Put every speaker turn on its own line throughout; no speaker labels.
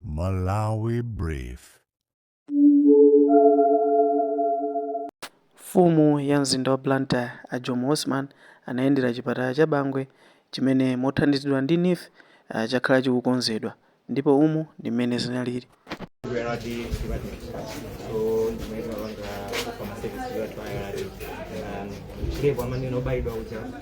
Malawi Brief.
Mfumu ya mzinda wa Blantyre a Jomo Osman anayendera chipatala cha Bangwe chimene mothandizidwa ndi NEEF ah, chakhala chikukonzedwa ndipo umu ndi mmene zinalili.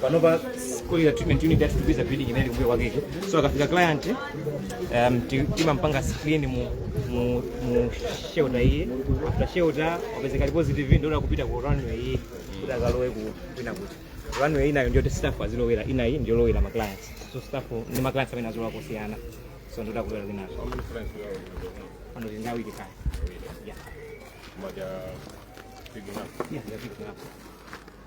panopa kuya treatment unit yathu tikuika building inali kumbuyo kwake iko so akafika client um, ti- timampanga screen mu, mu, mu shelter iyi after shelter wapezeka ali positive ndio kupita ku runway iyi kuti akalowe uko kwina kuti runway inayo ndio staff azilowera inayi ndio lowera ma clients so staff ni ma clients amene azilowa kosiyana so ndio takulowera kwina pano tindawike kaya yeah
yeah they're picking up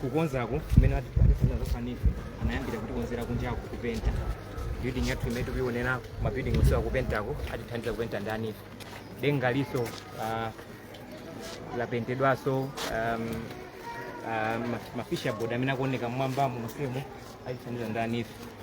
kukonzaku kumene atithandiza ndani ife anayambira kutikonzera kunjaku kupenta building yathu imene tikuyionera ma building onse akupentako atithandiza kupenta ndani ife dengalinso uh, lapentedwanso um, uh, ma- ma fascia board amene akuoneka mmwambamo monsemo atithandiza ndani ife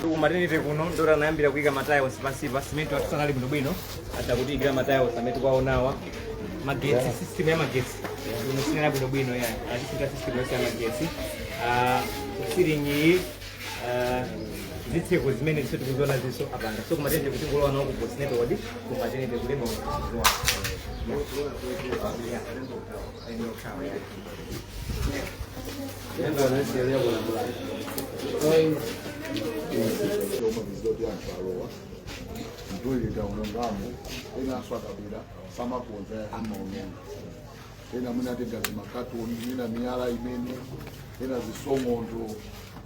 ku maternity kuno ndora anayambira kuika matiles pansi pa simenti yathu sinali bwinobwino atatiikira matiles amene tikuwaonawa magetsi system ya magetsi imu sinali bwinobwino ya atisintha system yonse ya magetsi Ah, ceiling iyi ah, zitseko zimene zonse tikuziona izinso apanga so ku maternity kuti ngolowa nawo ku postnatal ward ku maternity ku labour
chomwe ndi zoti anthu alowa mtoileti aonongamo ena aswa kapena samakonza amaononga ena mwina atenga zimakatoni mwina miyala imene ena zisononkho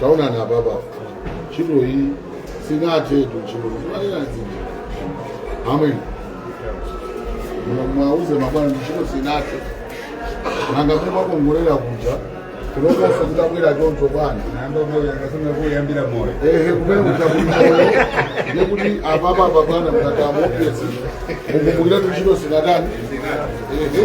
taonani apapa ntchito iyi sinathetu ntchito imaenazija amwene muwauze mabwana ndi ntchito sinathe nanga kuti mwakongolera kuja kunoko osati kuti abwera choncho
bwana kuyambira moyo ehe kumene
kuchakuiayo ndikuti apapa abwana mkatamu ofesi ukumbukira kuti ntchito sinatani ehe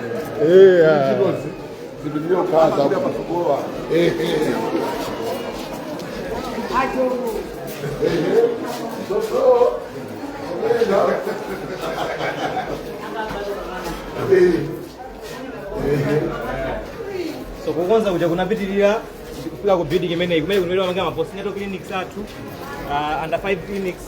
so kukonza kuja kunapitirira kufika ku building imeneyi kumene kunoitwa manga ma postnatal clinics athu uh, under 5 clinics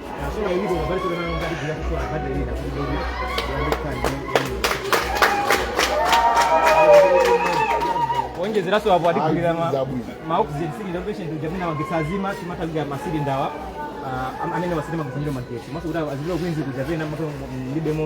onjezeraso apo atigulira ma- Zabwino. ma oxygen cylinder patient uja amene magetsi akazima timagulira ma cylinder wa ah, amene osadalira kufunira magetsi maso kuti azilira kuinzi kuja pena maka mlibemo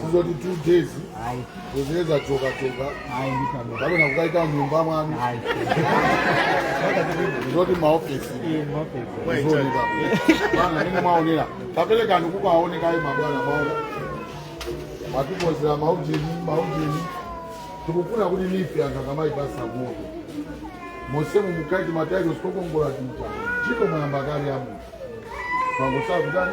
sizoti two days ayi kuzadza choka choka ayi nditano kapena kukaika nyumba mwanu ayi zoti maofesi mapesa zooneka ngati mmene mwaonera kapelekeni kukaoneka ayi mabwana mwaona mwatikonzera maujeni maujeni tikufuna kuti life anthu akamaipasa moto monsemu mukaike matailosi okongola tu ntchito mwayamba kale amunthu pangosakutani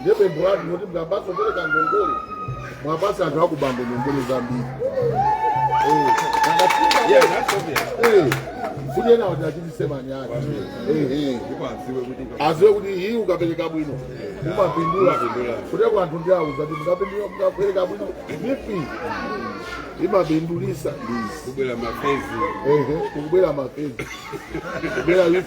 ndiye pempho lathu kuti mukamapatsa kupereka ngongole mwapatsa anthu a ku Bangwe ngongole zambiri Eh, akafika- Yeah, that's obvious. Eh, kuti ena wati atichitise manyazi Eh, eh. Ndipo adziwe kuti ngam- aziwe kuti iyi ukapereka bwino umapindula Umapindula. kuteroko anthu ndiwauza kuti mukapindula mukapereka bwino NEEF imapindulisa kubwera mafezi
Ehe, kubwera
mafezi kubwera NEEF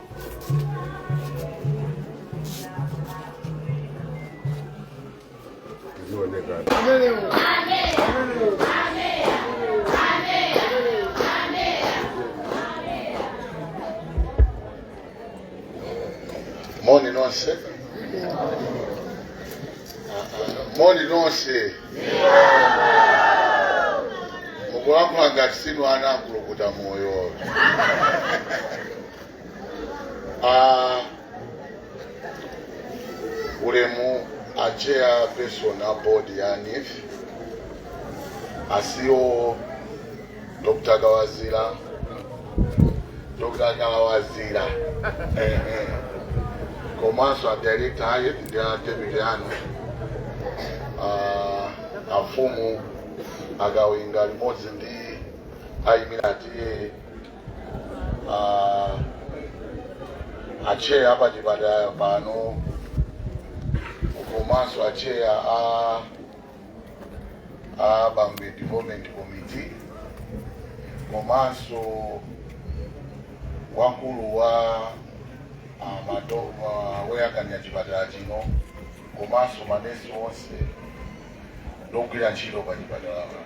moni nonse moni nonse mukulankhula ngati sinu ana a Mkulukutamoyo Ah, ulemu a chairperson a board ya NEEF ase wo Dr. Kawazira Dr. Kawazira eh, eh. komanso a director aye ndi a deputy anu ah, afumu akawinga limodzi ndi oyimira a T/A Ah, acheya a pa chipatala pano komanso acheya a a Bangwe Development Committee komanso wamkulu wa ah, mato- wa- woyang'anira chipatala chino komanso manesi onse ndi ogwira ntchito pa chipatala pano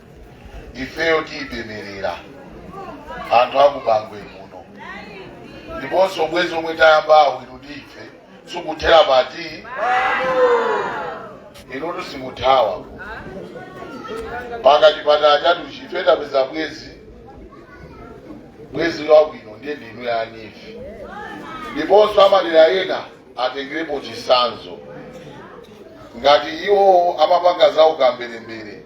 ifeyo tikupemphera anthu akubangwe muno ndiponso ubwenzi omwe tayambawu inu ndi ife sikuthera pati inutu simuthawa mpaka chipatala chathuchi ife tapeza bwenzi bwenzi wabwino ndiye ndinu a NEEF ndiponso madera ena atengerepo chisanzo ngati iwo amapanga za ukambelembele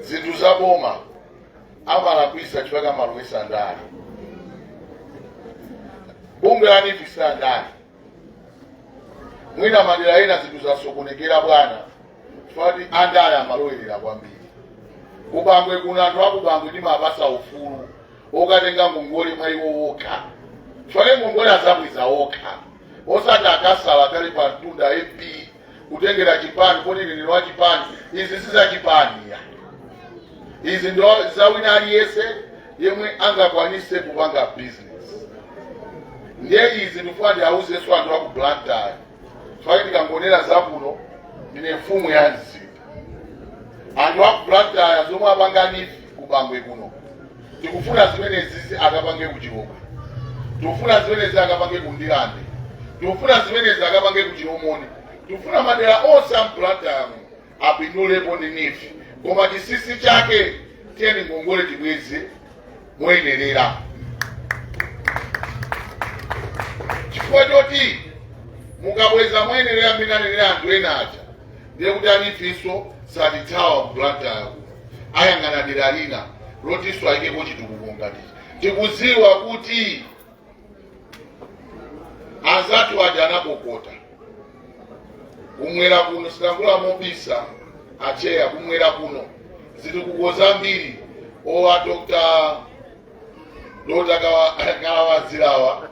zinthu za boma amalakwisa chifukwa amalowesa ndale bungwe la NEEF si landale mwina madera ena zinthu zasokonekera bwana chifukwa kuti andale amalowerera kwambiri kubangwe kuno anthu akubangwe ndimapasa ufulu wokatenga ngongole mwa iwo okha chifukwa ngongole azabweza okha osati akasala ali pa mtunda MP kutengera chipani kuti ine ndine wa chipani izi si za chipani ya izi ndi za wina aliyense yemwe angakwanise kupanga business ndiye izi ndifuna ndiauzenso anthu aku blantyre chifukwa ndikangonera zakuno ndine mfumu ya mzinda anthu aku blantyre zomwe apanga NEEF kubangwe kuno tikufuna zimenezizi akapange kuchilobwe tikufuna zimenezi akapange kundilande tikufuna zimenezi akapange kuchilomoni tikufuna madera onse a mu blantyre apindulepo ndi NEEF koma chisisi chake tiyeni ngongole tibweze moyenerera chifukwa choti mukabweza moyenerera mmene anenera anthu ena aja ndiye kuti a NEEF nso satithawa kublantyre kuno ayang'ana dera lina lotinso ayikepo chitukuko ngatichi tikudziwa kuti anzathu aja anatikhota kumwera kuno silankhula mobisa acheya kumwera kuno zitukuko zambiri awa dr dokota kawalazirawa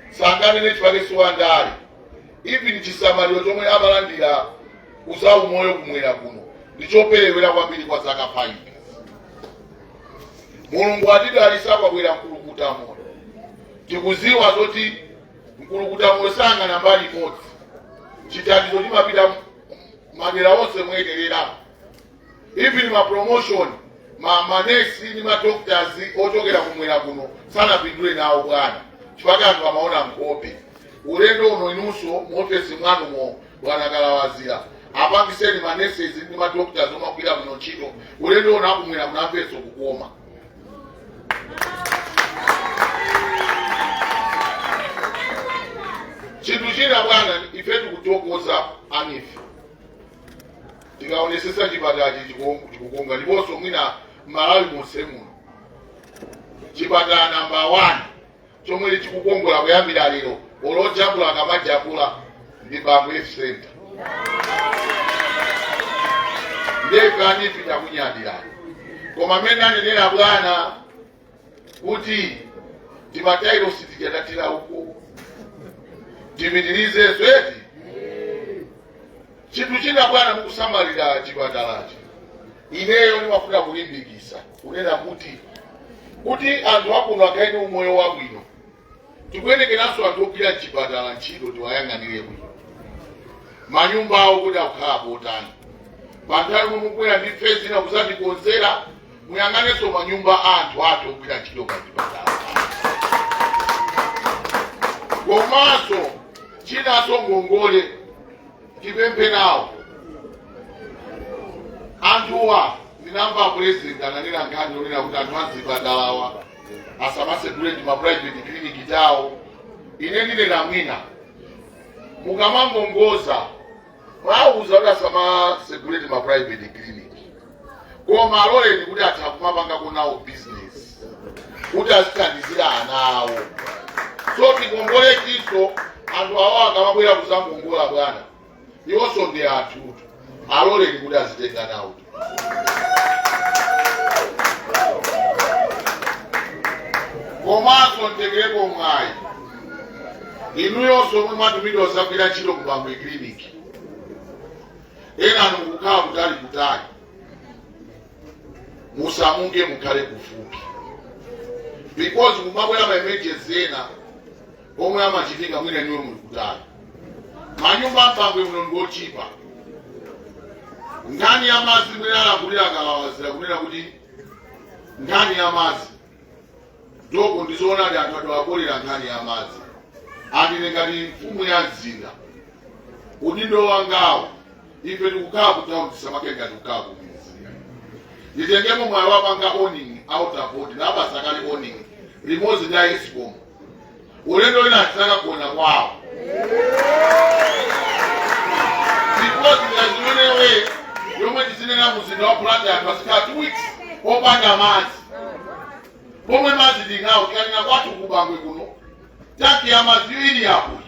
sanganene chifukwa si wa ndale even chisamaliro chomwe amalandira kuzaumoyo kumwera kuno ndichoperewera kwambiri kwa zaka 5 mulungu atidalisa kwabwera mkulukuta moyo tikuziwa zoti mkulukuta moyo sayang'ana mbali imodzi chithandizo chimapita madera onse moyenerera even ma promotion a manesi ndi ma doctors ochokera kumwera kuno sanapindule nawo bwana chifukwa anthu amaona nkhope ulendo uno inunso mu ofesi mwanumo bwana kalawazira apatseni manesi ndi madokotala omagwira muno ntchito ulendo uno akubwera munamveso kukoma chinthu china bwana ife tikuthokoza anife tikaonesesa chipatalachi chikukonga ndiponso mwina m'malawi monse muno chipatala namba 1 chomwe chikukongola kuyambira lero olojambula akamajambula ndi Bangwe Health Center ndefe anife takunyadirani koma mmene anenera bwana kuti timatailosi tija tathera uko timalize zweti chinthu china bwana mukusamalira chipatalachi ineyo ndimafuna kulimbikitsa kunena kuti kuti anthu akuno akhale ndi umoyo wabwino tikuyenekeranso anthu ogwira mchipatala ntchito tiwayang'anire bwino manyumba awo kuti akukhala motani panthawi momwe mukubwera ndi phase ina kuzatikonzera muyang'anenso manyumba a anthu athu ogwira ntchito pa chipatala komanso chinanso ngongole tipemphe nawo anthuwa ndinamva apulezidenti ananena nkhani yonena kuti anthu azipatalawa asamatsegule ti maprivate clinic tawo ine ndinena mwina mukamangongoza mwawauza kuti asamatsegule ti maprivate clinic koma aloleni kuti atha kumapangako nawo bizinesi kuti azithandizira ana awo so tingongole tinso anthu awa akamabwera kuzangongola bwana iwonso ndi anthu aloleni kuti azitenga nawo komanso nditengerepo mwayi inuyonso omwe mwatumidwa kuzagwira ntchito ku bangwe kiliniki ena anu akukhala kutali kutali musamuke mukhale kufupi because kumabwera ma emergency ena pomwe amachitika mwina inuyo muli kutali manyumba m'Bangwe muno ngochipa nkhani ya madzi mwina alankhulira a Kalawazira kunena kuti nkhani ya madzi Soko ndi zoonadi anthu adawapolera nkhani ya madzi and ine ngati mfumu ya mzinda udindo wangawo ife tikukhala kutauni tisamakhale ngati tikukhala kumidzi nditengemo mwayi wapanga warning water board nawapatsa kale warning limodzi ndi a escom ulendo wina tizakagona kwawo because ndi zimene iweyo umwe tizinena mu mzinda wa Blantyre anthu azikhala two weeks opanda madzi pomwe madzi tinawo tikanena kwathu ku Bangwe kuno tanki ya madzi ili apo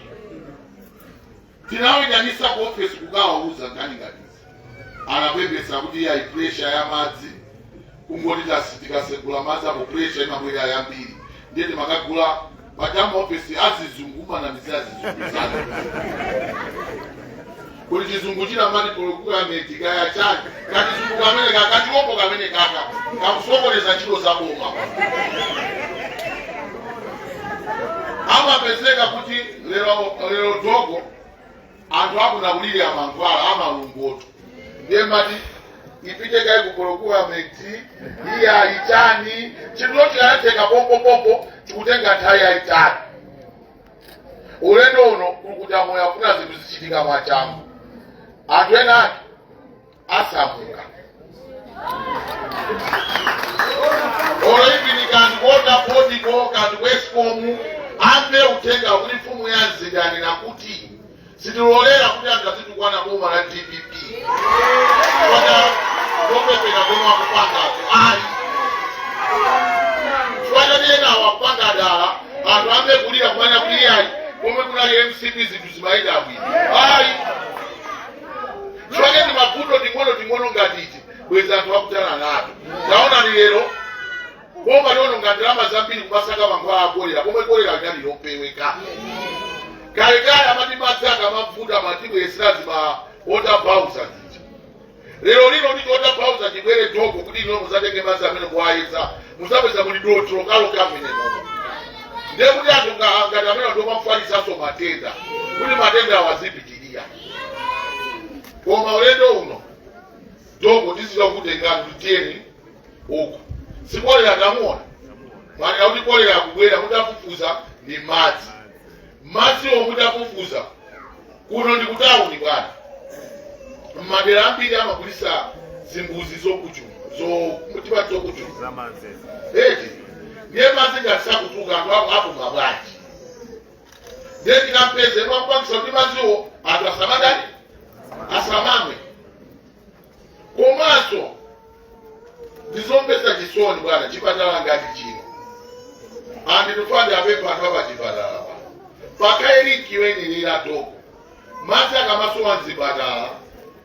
Tinawitanisa ku office kukawauza nkhani ngati izi anapepesa kuti iyayi pressure ya madzi kungoti tasi tikasegula madzi apo pressure imabwera yambiri ndiye timakagula pachama office azizungu umanamiza azizungu zake kuti chizungu china amati procurement kaya chani kachizungu kamenekaka kachiopo kamenekaka kakusokoneza ntchito za boma amapezeka kuti Lero lero dogo anthu akuno akulilira mankhwala amalungotu ndiye amati ipite kaye ku procurement iye ayitani chinthu chikanatheka pompopompo chikutenga nthawi yayitali ulendo uno kuli kuti amoyo afuna zinthu zizichitika mwachangu anthu enaake asamuka olo ipini kaya ndi ku Water Board ko kaya ndi ku ESCOM amve uthenga kuti mfumu ya mzinda yanena kuti sitilolera kuti anthu azitukwana boma la dpp kota zopepera zomwe akupangazo ayi chifukwa ena akupanga dala anthu ayambe kulira kumanena kuti iyayi pomwe kunali mcp zinthu zimayenda bwino ayi chifukwa timavuto ting'ono ting'ono ngati iti bwezi anthu akuthana nato taonani lero boma liononga ndalama zambiri kumasaka mankhwala akolera pomwe kolera linali lopeweka kalekale amati madzi akamavuta amatibweretsera zima water bowser zija lero lino ndi water bowser chibwere doko kuti inu muzatenge madzi amene kuwayeza muzapeza muli dothi lokhalokha mmenemomo ndiye kuti anthu nga- ngati amenewa ndi omafalitsanso matenda kuti matenda awa azipitirira koma ulendo uno dogo tiziwa kutengani kuti tiyeni uku si kolera tamuona mwanena kuti kolera akubwera mutafufuza ndi madzi madziwo mutafufuza kuno ndi kutawuni bwana mmadera ambiri amagwiritsa zimbudzi zokuchuma zotipa zokuchuma zamanzeza eti ndiye madzi ngati sakutuluka anthu apo apuma bwanji ndiye tikampeze wapangitsa kuti madziwo anthu asamatani asamamwe komanso ndizomvetsa chisoni bwana chipatala ngati chino anditufandi apepa anthu apachipatala pa pakaelikiwenilira toko madzi akamasowa mzipatala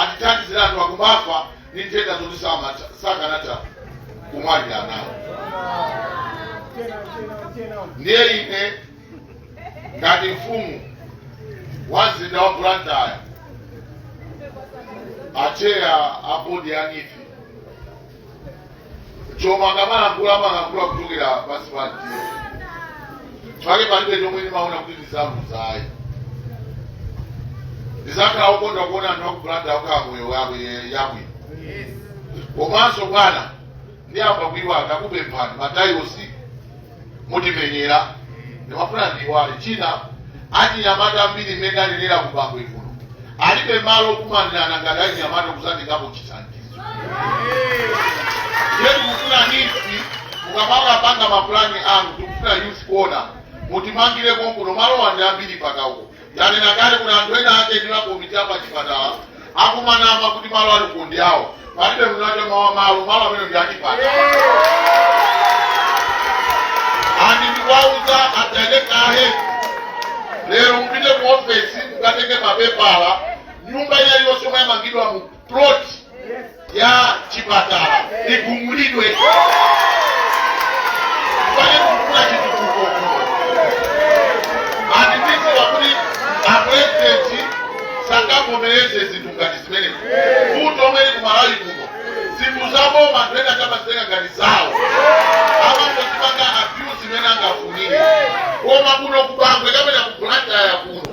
Atithandizire anthu akumafa ndi nthenda zoti samatha- sakanatha kumwalira nawo. Ndiye ine ngati mfumu wa mzinda wa Blantyre, acheya a bodi ya NEEF chomwe akamalankhula amalankhula kuchokera pansi pa mtima chifake palibe chomwe ndimaona kuti ndi zabodza ayi ndizakhala okondwa kuona anthu aku Blantyre akukhala miyoyo yabwino komanso bwana ndiyamba kuiwala ndakupemphani matayilosi mutimenyere ndimafuna ndiwale china achinyamata ambiri mmene anenera ku bangwe kuno alibe malo okumanirana ngati achinyamata kusandikapo chithandizo ndiye tikufuna NEEF mukamala panga mapulani anu tikufuna youth corner mutimangire konkuno malo wa ndi ambiri pakauko tanena kale kuti anthu ena ake ndi makomiti apachipatala akumanama kuti malo aliko ndi awo palibe mnaja mawa malo malo amene ndi achipatala and ndikuwauza atendekahe lero mupite ku ofesi mukatenge mapepala nyumba iliyonse yomwe yamangidwa mu plot ya chipatala igumulidwe paikidwe chitukuko and ndikudziwa kuti apurezidenti sangavomereze zinthu ngati zimenezi vuto lomwe lili ku Malawi kuno zinthu zaboma anthu ena amazitenga ngati zawo amangozipanga abuse mmene angafunire koma kuno ku Bangwe kapena ku Blantyre kuno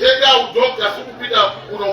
katangale sikupita kutsogolo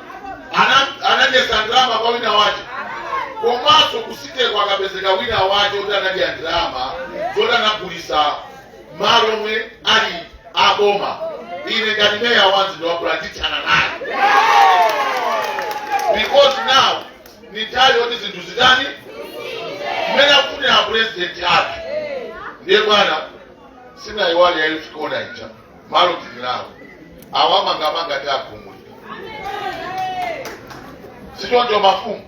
Ana- anadyetsa ndalama kwa wina wace komanso ku city-ko akapezeka wina wace oti anadya ndalama zoti anagulisa malo omwe ali aboma ine ngati meya wa mzinda wa Blantyre ndithana naye because now ni nthawi yoti zinthu zitani mmene akufunira apulezidenti athu ndiye bwana sinayiwale ya youth corner ija malo tili nawo awamangamanga tiagumulira sichoncho mafumu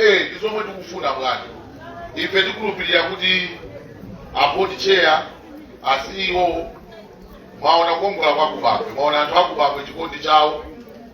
eh ndi zomwe tikufuna bwana ife tikulupirira kuti a board chair a CEO mwaona kukongola kwa ku Bangwe mwaona anthu aku Bangwe chikondi chawo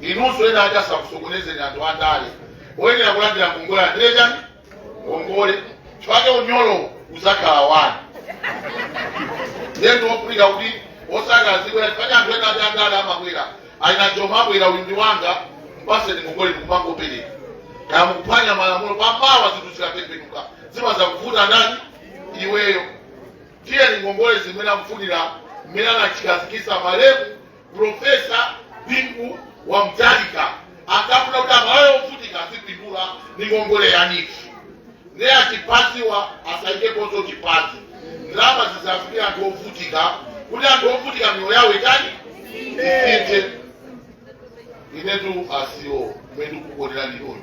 inunso ena aja asakusokonezeni anthu andale oyenera kulandira ngongole alandire chani ngongole chifake unyolo uzakhala wanu ndiye ndi zofunika kuti osangozipereka chifake anthu ena aja andale amabwera a honourable abwera uyu ndi wanga mpaseni ngongole ndikumangopereka kaya mukuphwanya malamulo pamawa zinthu zikatembenuka zimazakuvuta ndani iweyo tiyeni ngongole zimene akufunira mmene anachikhazikitsa malemu Profesa Bingu wa Mutharika ankafuna kuti aMalawi ovutika azipindula ndi ngongole ya NEEF nde achipaniwa asaikeponso chipani ndalama zisafikira anthu ovutika kuti anthu ovutika miyoyo yawo itani isinthe inetu a CEO kumene ndikukuonerani moyo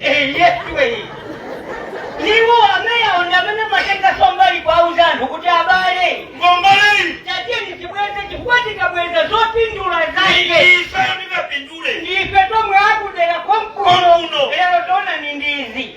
eyesiweyi iwo ameyawo ndi amene amatenga sombali kuwauza anthu kuti abale ngongoleyi
tatiyeni
tibweze chifukwa tikabweza zopindula zake ife
tingapindule ndife tomwe
akudera konkuno Konkuno. lero taonani ndi izi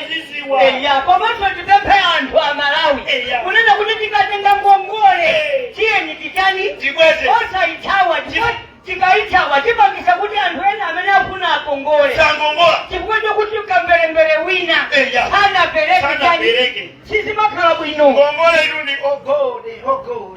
tiziwa
eya komanso
tipemphe anthu a malawi Eya. kunena kuti tikatenga ngongole Eh. tiyeni titani tibweze
osayithawa
Chifukwa- tikayithawa tipangisa kuti anthu ena amene afuna akongole sakongola
chifukwa
chokuti mkamberembere wina Eya. sanapereke sanapereke sizimakhala bwino ngongole ilundi
ogode ogode